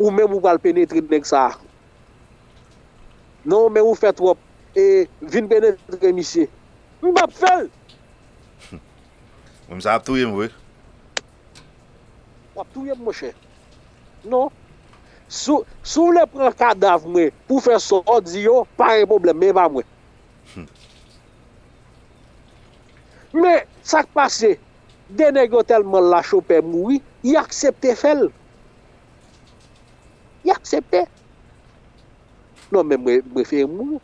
Ou menm ou pral penetre nèg sa. Non men ou fè twòp e vin penetre misye. M pap fèl! Moun sa ap touyem vre. Wap touyem monchè. Non. Si w vle pran kadav mwen pou w fè sa w di yo, pa gen pwoblèm men e pa mwen. Men sak pase, 2 nèg yo tèlman lacho pè mouri, y aksepte fèl. Li aksepte. Non men mwen prefere mouri.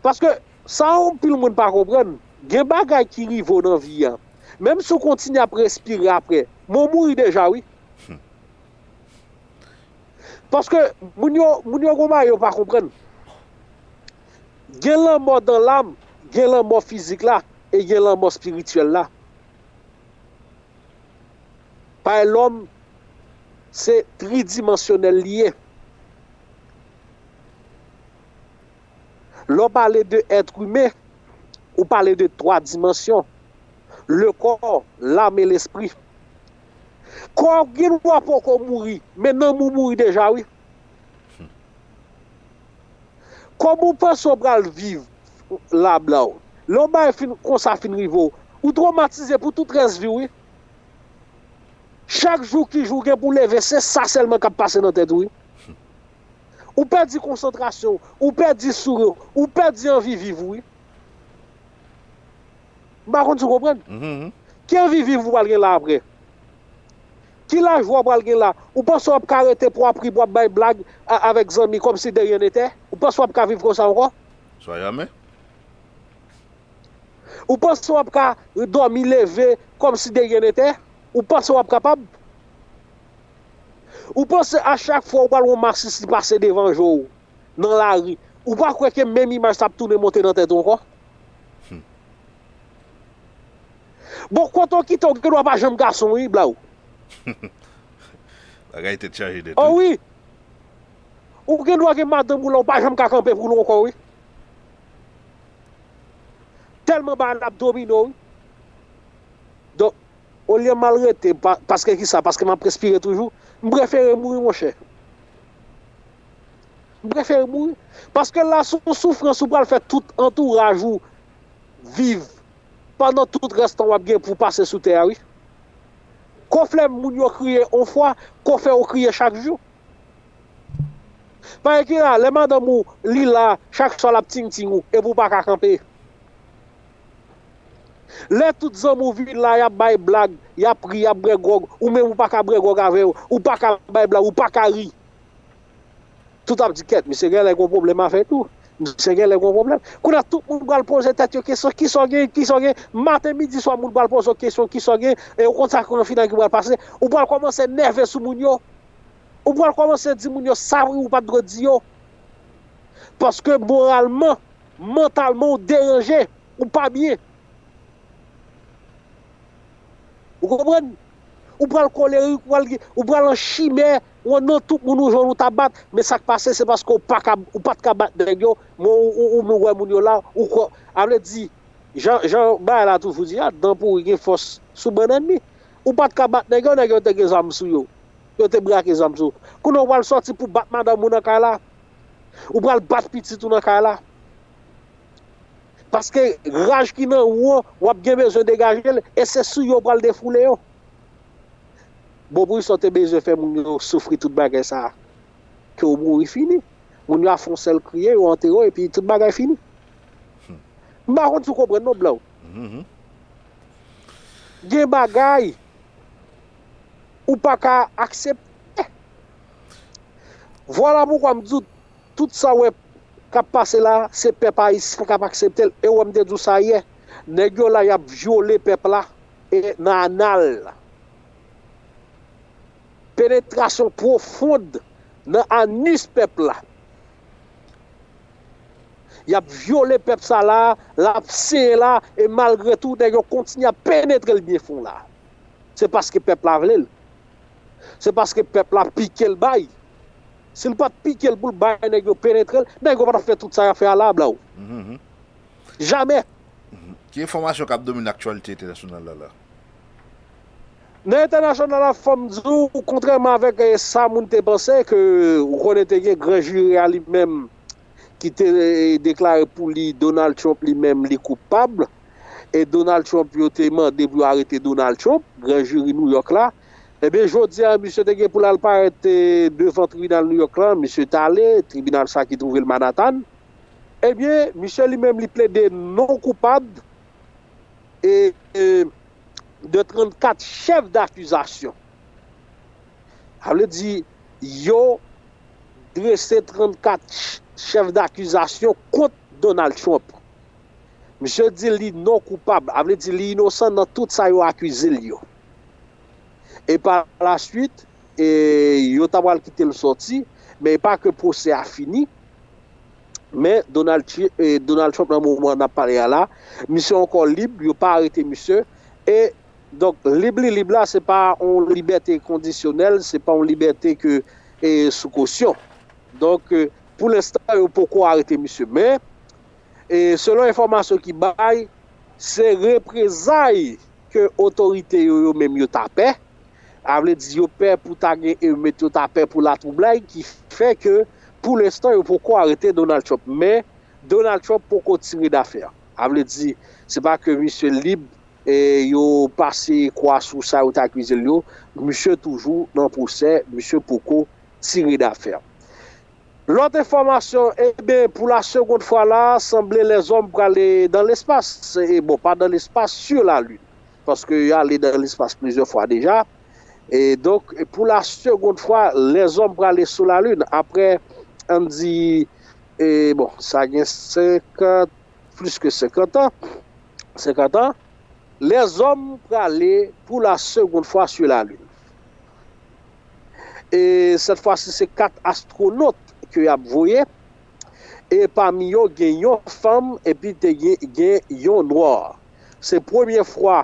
Paske sa anpil moun pa konprann, gen bagay ki rive w nan vi an, menm si w kontinye ap respire apre, men w mouri deja wi. Paske moun yo, moun yo gen yon bagay yo pa konprann. Gen lanmò dan lam, gen lanmò fizik la, e gen lanmò espirityèl la. Bay lòm. Se tridimansyonèl li ye. Lè w pale de èt imen, ou pale de twa dimansyon, le kò, lam e lespri. Kò w gen dwa poko mouri, men nanm ou mouri deja wi. Kòman w panse w pral viv la bla w? Lè yon bagay konsa fin rive w, ou twomatize pou tout rès vi w wi. Chak jou ki jou w gen pou w leve se sa sèlman k ap pase nan tèt ou wi. Ou pèdi konsantrasyon w, ou pèdi souri w, ou pèdi anvi viv ou wi. M pa konn si w konprann. Ki anvi viv ou pral gen la aprè? Ki lajwa w pral gen la? Ou panse w ap ka rete pou w ap ri, pou w ap bay blag avèk zanmi kòmsi de ryen netè? Ou panse w ap ka viv konsa ankò? Swa jamè. Ou panse wap ka domi leve komsi de rien nete? Ou panse wap kapab? Ou panse a chak fwa ou pral wè yon masisi pase devan je w nan lari, ou pa kwè ke menm imaj sa ap tounen monte nan tèt ou ankò? Bon kote w kite w gen dwa pa janm gason wi blaw. Bagay tèt chaje nèt wi. O wi! Ou gen dwa gen madanm ou la ou pa janm ka kanpe pou l w ankò wi. Tèlman bagay la ap domine w. Donk, olye m al rete, paske kisa, paske m ap respire toujou, m prefere mouri monchè. M prefere mouri. Paske la se yon soufrans ou pral fè tout antouraj ou viv pandan tout rès tan w ap gen pou w pase sou tè a wi. Kò flè moun yo kriye yon fwa, kò fè yo kriye chak jou. Pae ki la, lè madanm ou li la chak swa lap ting ting ou epi ou pa ka kanpe. Lè tout zanmi ou vin la yap bay blag, yap ri, yap bwè gwòg, ou menm ou pa ka bwè gwòg avè yo, ou pa ka bay blag, ou pa ka ri. Tout ap di kèt misye genlè gon pwoblèm avèk ou, misye genlè gon pwoblèm. Kounye a tout moun pral poze tèt yo kesyon kisa w gen, kisa w gen, maten, midi, swa moun pral poze w kesyon kisa w gen e ou konn sa ki pral fini ak yo pral pase, ou pral kòmanse nève sou moun yo, Ou pral kòmanse di moun yo sa ou pat dwe di yo. Paske moralman, mantalman ou deranje, ou pa byen. Ou konprann? Ou pral kolerik, ou pral an chimè, ou an non tout moun ou jwenn ou ta bat, men sa k pase se paske ou pat ka bat nèg yo, men ou wè moun yo la, ou kwè. A vle di, jan bagay la toujou di a, dan pouri gen fòs sou bannann li. Ou pat ka bat nèg yo, nèg yo te gen zam sou yo. Yo te brake zam sou. Kounye a ou pral sòti pou bat madanm ou nan kay la? Ou pral bat pitit ou nan kay la? Paske raj ki nan ou an, w ap gen bezwen degaje l e se sou yo ou pral defoule yo. Bon poukisa ou te bezwen fè moun yo soufri tout bagay sa a? Ke ou mouri fini. Moun yo a fè yon sèl kriye, yo antere w epi tout bagay fini. M pa konn si w konprann non Blanc. Gen bagay ou pa ka aksepte. Vwala poukwa m di w tout sa w wè k ap pase la, se pèp ayisyen k ap aksepte l. E w wè m te di w sa yè. Nèg yo la y ap vyole pèp la e nan anal. Penetrasyon pwofond nan anus pèp la. Yap vyole pèp sa la, lap senyen la e malgre tou nèg yo kontinye ap penetre l byen fon la. Se paske pèp la vle l. Se paske pèp la pike l bay. Si l pat pike l pou l bay nèg yo penetre l, nèg yo pa tap fè tout sa yap fè a la bla w. Jamè! Ki enfòmasyon kap domine aktyalite entènasyonal la la? Nan entènasyonal la fòm di w kontrèman avèk sa moun te panse ke ou konnen te gen gran jiri a li menm ki te deklare pou li Donald Trump li menm li koupab e Donald Trump yo te mande pou yo arete Donald Trump gran jiri New York la ebyen jodi a misye te gen pou l al parèt devan tribinal New York lan misye t ale tribinal sa ki twouve l Manhattan ebyen misye li menm li plede non koupab e de 34 chèf dakizasyon. Sa vle di yo drese 34 chèf dakizasyon kont Donald Trump. Misye di li non koupab, sa vle di li inosan nan tout sa yo akize l yo. E pa la swit, yo ta pral kite l sòti, men e pa ke pwosè a fini. Men, Donald Trump nan moman nap pale a la, misye ankò lib, yo pa arete misye, e, donk, lib li lib la, se pa yon libète kondisyonèl, se pa yon libète ke sou kosyon. Donk, pou lenstan, yo poko arete misye. Men, selon enfòmasyon ki bay, se reprezay ke otorite yo yo menm yo ta pè, Sa vle di yo pè pou ta gen emet, yo ta pè pou latwoublay ki fè ke pou lenstan yo poko arete Donald Trump. Men, Donald Trump poko tire dafè. Sa vle di, se pa ke misye lib, yo pase kwa sou sa yo te akize l yo, misye toujou nan pwosè, misye poko tire dafè. Lòt enfòmasyon, eben, pou la segond fwa la, sanble lèzòm prale dan lespas, bon, pa dan lespas, sur la lune. paske yo ale nan lespas plizyè fwa deja, e donk pou la segond fwa lèzòm prale sou la lin apre ann di e bon sa gen 50 plis ke 50 an 50 an lèzòm prale pou la segond fwa sou la lin e sèt fwa si se 4 astwonot ke y ap voye e pami yo gen yon fanm epi te gen yon nwa. Se premye fwa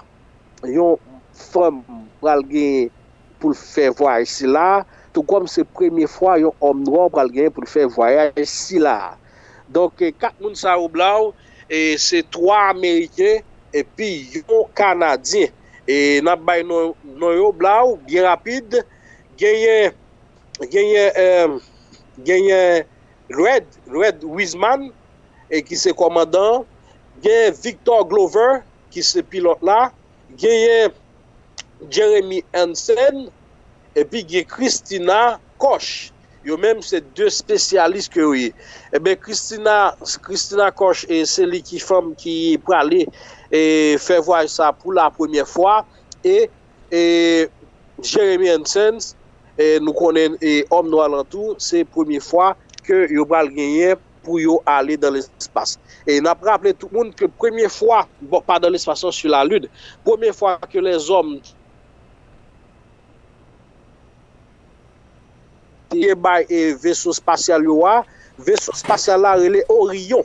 yon fanm pral genyen pou l fè vwayaj sila a, tou kòm se premye fwa yon òm nwa pral genyen pou l fè vwayaj sila a. Donk, 4 moun sa yo blaw, se 3 ameriken epi yon kanadyen. E n ap bay non yo blaw byen rapid. Genyen, genyen, genyen Red Red Wiseman e ki se kòmandan an, genyen Victor Glover ki se pilòt la, genyen Jeremy Hansen epi gen Christina Koch. Yo menm se 2 spesyalis ke yo ye. Enben Christina Christina Koch e se li ki fanm ki prale e fè vwayaj sa pou la premyè fwa e Jeremy and Sons nou konnen Homme Noir lan tou se premye fwa ke yo pral genyen pou yo ale dan lespas. E nap raple tout moun ke premye fwa, bon pa dan lespas non su la lune, premye fwa ke lèzòm te bay veso spasyal yo a, veso spasyal la rele Orion.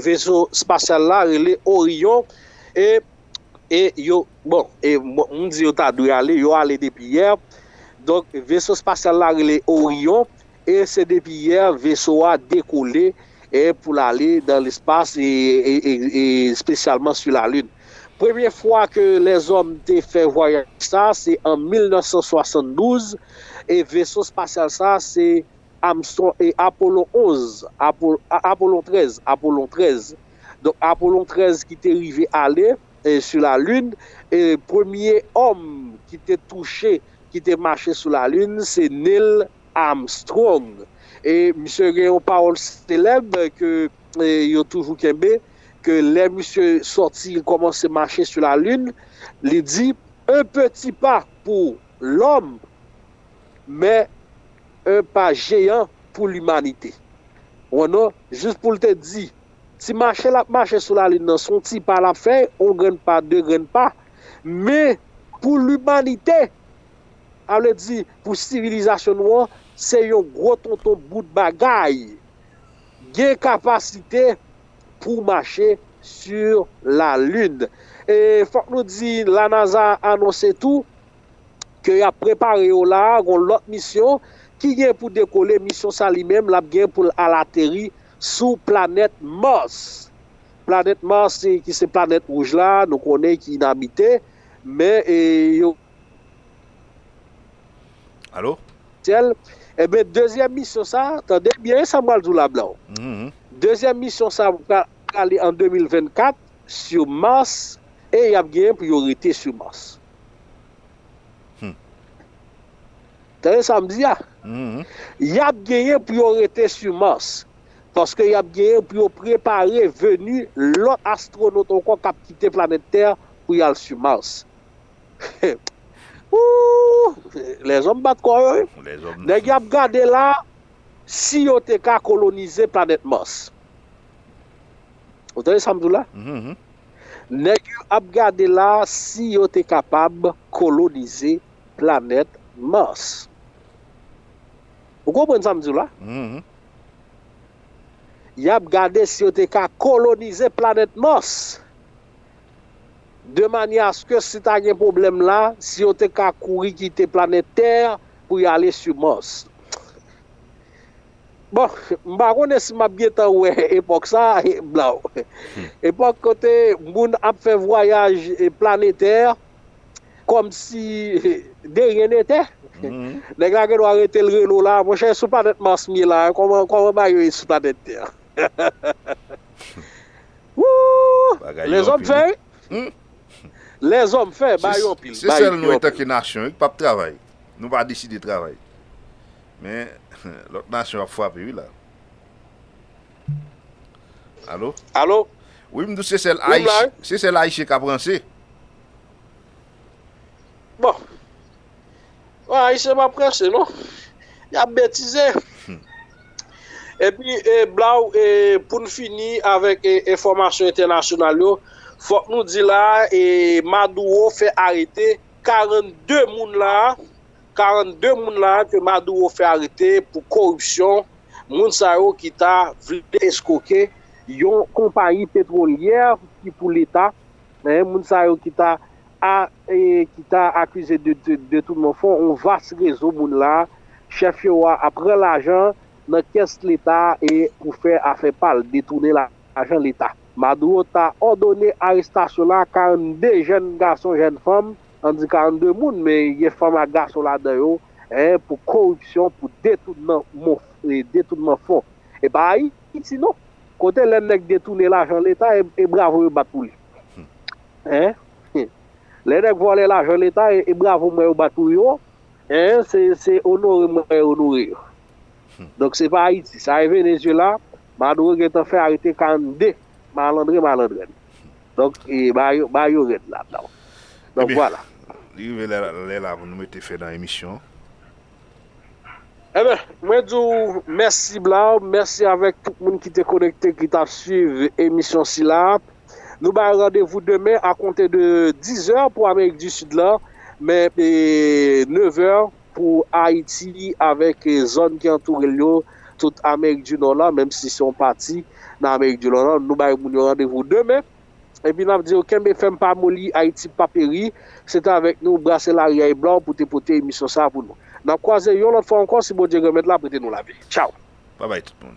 Veso spasyal la rele Orion. e yo bon e moun di yo ta dwe ale yo ale depi yè donk veso spasyal la rele Orion e se depi yè veso a dekole e pou l ale dan lespas e e spesyalman su lalin premye fwa ke lèzòm te fè vwayaj sa se an 1972 e veso spasyal sa se Armstrong e Apollo 11 Apollo 13 Apollo 13 Donk Apollon 13 ki te rive ale sou lalin, e premye òm ki te touche, ki te mache sou lalin se Neil Armstrong. E misye gen yon pawòl selèb ke yo toujou kenbe, ke lè misye sòti kòmanse mache sou lalin, li di, Un petit pas pour l'homme, mais un pas géant pour l'humanité. Ou wè non? Jis pou l te di Ti mache l ap mache sou lalin nan, s on ti pa l ap fè, on grenn pa, de grenn pa. Men, pou limanite, sa vle di pou sivilizasyon nou an, se yon gwo tonton bout bagay. Gen kapasite pou mache sur la lune. E fòk nou di, la NASA anonse tou, ke y ap prepare yo la a, gon lòt misyon, ki gen pou dekole, misyon sa li menm, l ap gen pou l al ateri, sou planèt Mars. Planèt Mars ki se planèt wouj la nou konnen ki inabite men yo. Alo? Syèl. Enben dezyèm misyon sa, tande byen sa m pral di w la blan. Dezyèm misyon sa pral ale an 2024 sou Mars e y ap genyen pou yo rete sou Mars. Tande sa m di a, y ap genyen pou yo rete sou Mars, paske y ap genyen pou yo prepare veni lòt astwonot ankò k ap kite planèt tè pou y al sou Mars. Ooh! Lèzòm bat kò yo wi. Nèg y ap gade la a si yo te ka kolonize planèt Mars. Ou tande sa m di w la? Nèg yo ap gade la a si yo te kapab kolonize planèt Mars. Ou konprann sa m di w la? Y ap gade si yo te ka kolonize planèt Mars. De manyè aske si ta gen pwoblèm la, si yo te ka kouri kite planèt tè pou y ale sou Mars. Bon, m pa konnen si m ap gen tan wè epòk sa a, blaw. Epòk kote moun ap fè vwayaj planetè, Kòmsi de ryen netè. Nèg la gendwa rete l rele w la, monchè sou planèt Mars m ye la, kòman bagay yo ye sou planèt tè an. Wouuh! Lèzòm fè wi. Lèzòm fè, ba yo anpil. Se sèl nou etanke nasyon wi k pap travay. Nou pa deside travay. Men, lòt nasyon ap frape wi la. Alo? Alo? Wi m di w se sèl ayisyen k ap ranse. Bon. Bon, Ayisyen pa prese non. Y ap betize. Epi, blaw, pou n fini avèk enfòmasyon entènasyonal yo, fòk nou di la a, Maduro fè arete 42 moun la a, 42 moun la a ke Maduro fè arete pou koripsyon, moun sa yo ki ta vle eskwoke yon konpayi petwolyè ki pou Leta. Eeh moun sa yo ki ta a eeh ki ta akize de detounman fon yon vas rezo moun la a, chèf yo a ap pran lajan nan kès leta a e pou fè afè pa l, detounen lajan leta. Maduro ta òdone arestasyon la 42 jèn gason jèn fanm, an di 42 moun men gen fanm ak gason ladan yo eeh pou koripsyon pou detounman fon. E pa Ayiti non. Kote lè nèg detounen lajan leta e bravo yo bat pou li? Hein? Lè nèg vòlè lajan leta e bravo m wè yo bat pou yo? Hein? Se onore m wè yo onore yo. Donk se pa Ayiti. Sa e Venezyela, Maduro gentan fè arete 42 malandren malandrèn. Donk e ba yo rèd ladanw. Donk vwala. Li rive lè la pou nou mete fen nan emisyon. Eben, mwen di w mèsi Blaw, mèsi avèk tout moun ki te konekte, ki t ap swiv emisyon sila. Nou bay randevou demen akonte de 10 zè pou Amerik di Sid la, men 9 zè pou Ayiti avèk zòn ki antoure l yo, tout Amerik di Nò la, menm si se yon pati nan Amerik di Nò la. Nou bay moun yo randevou demen. Epi nap di yo kenbe fèm pa moli Ayiti pa peri, se te avèk nou brase lari a e bla w pou te pote emisyon sa a pou nou. Nap kwaze yon lòt fwa ankò si Bondye Granmèt la prete nou lavi. Tchaw! Babay tout moun.